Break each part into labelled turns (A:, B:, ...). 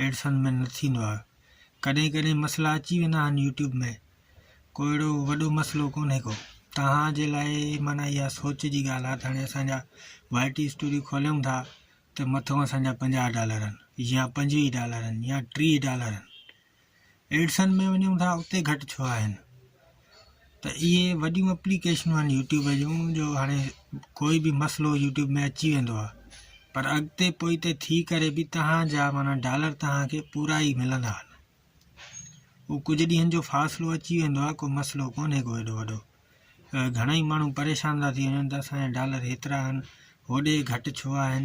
A: Edison ۾ نه ٿيندو آهي ڪڏهن ڪڏهن مسئلا اچي ويندا آهن يوٽيوب ۾ ڪو اهڙو وڏو مسئلو ڪونهي ڪو توهان جي لاء معنيٰ اها سوچ جي ڳالهه آهي ته هاڻي اسان جا وائي ٽي اسٽوڊيو کوليون ٿا ته مٿو اسان جا پنجاهه ڊالر آهن يا پنجويهه ڊالر آهن يا ٽيهه ڊالر آهن ايڊسن ۾ وڃون ٿا اتي گهٽ ڇو آهن ته اهي وڏيون اپليڪيشنون آهن يوٽيوب جون جو هاڻي ڪوئي به مسئلو يوٽيوب ۾ اچي ويندو آهي پر اڳتي پوئتي ٿي ڪري به تهانجا مانا ڊالر تهانکي پورا ئي ملندا آهن هو ڪجهه ڏينهن جو فاصلو اچي ويندو آهي ڪو مسئلو ڪونهي ڪو ايڏو وڏو گهڻا ئي ماڻهو پريشان ٿا ٿي وڃن ته اسانجا ڊالر هيترا آهن هوڏي گهٽ ڇو آهن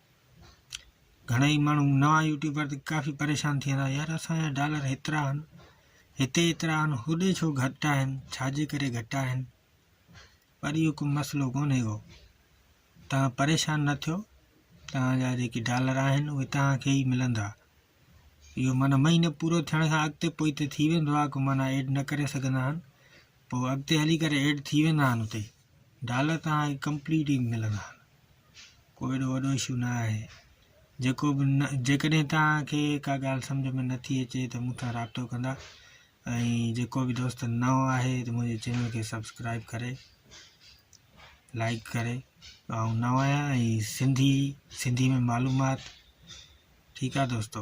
A: گهڻئي ماڻهو نوان يوٽيوبر ته ڪافي پريشان ٿي ويندا يار اسانجا ڊالر هيترا آهن هتي هيترا آهن هوڏي ڇو گهٽ آهن ڇاجي ڪري گهٽ آهن پر اهو ڪو مسئلو ڪونهي هو تان پريشان نه ٿيو تان جا جيڪي ڊالر آهن اهي تان کي ئي ملندا اهو معنيٰ مهينو پورو ٿيڻ کان اڳتي پوئتي ٿي ويندو آهي ڪو معنيٰ ايڊ نه ڪري سگهندا آهن پوء اڳتي هلي ڪري ايڊ ٿي ويندا آهن اتي ڊالر توهان کي ڪمپليٽ ئي ملندا آهن ڪو ايڏو وڏو اشو نه آهي جيڪو به نه جيڪڏهن توهان کي ڪا ڳالهه سمجھ ۾ نٿي اچي ته مون سان رابطو ڪندا ۽ جيڪو به دوست نئون آهي ته منهنجي چينل کي سبسڪرائب ڪري لائڪ ڪري آئون نئون آهيان ۽ سنڌي سنڌي ۾ معلومات ٺيڪ آهي دوستو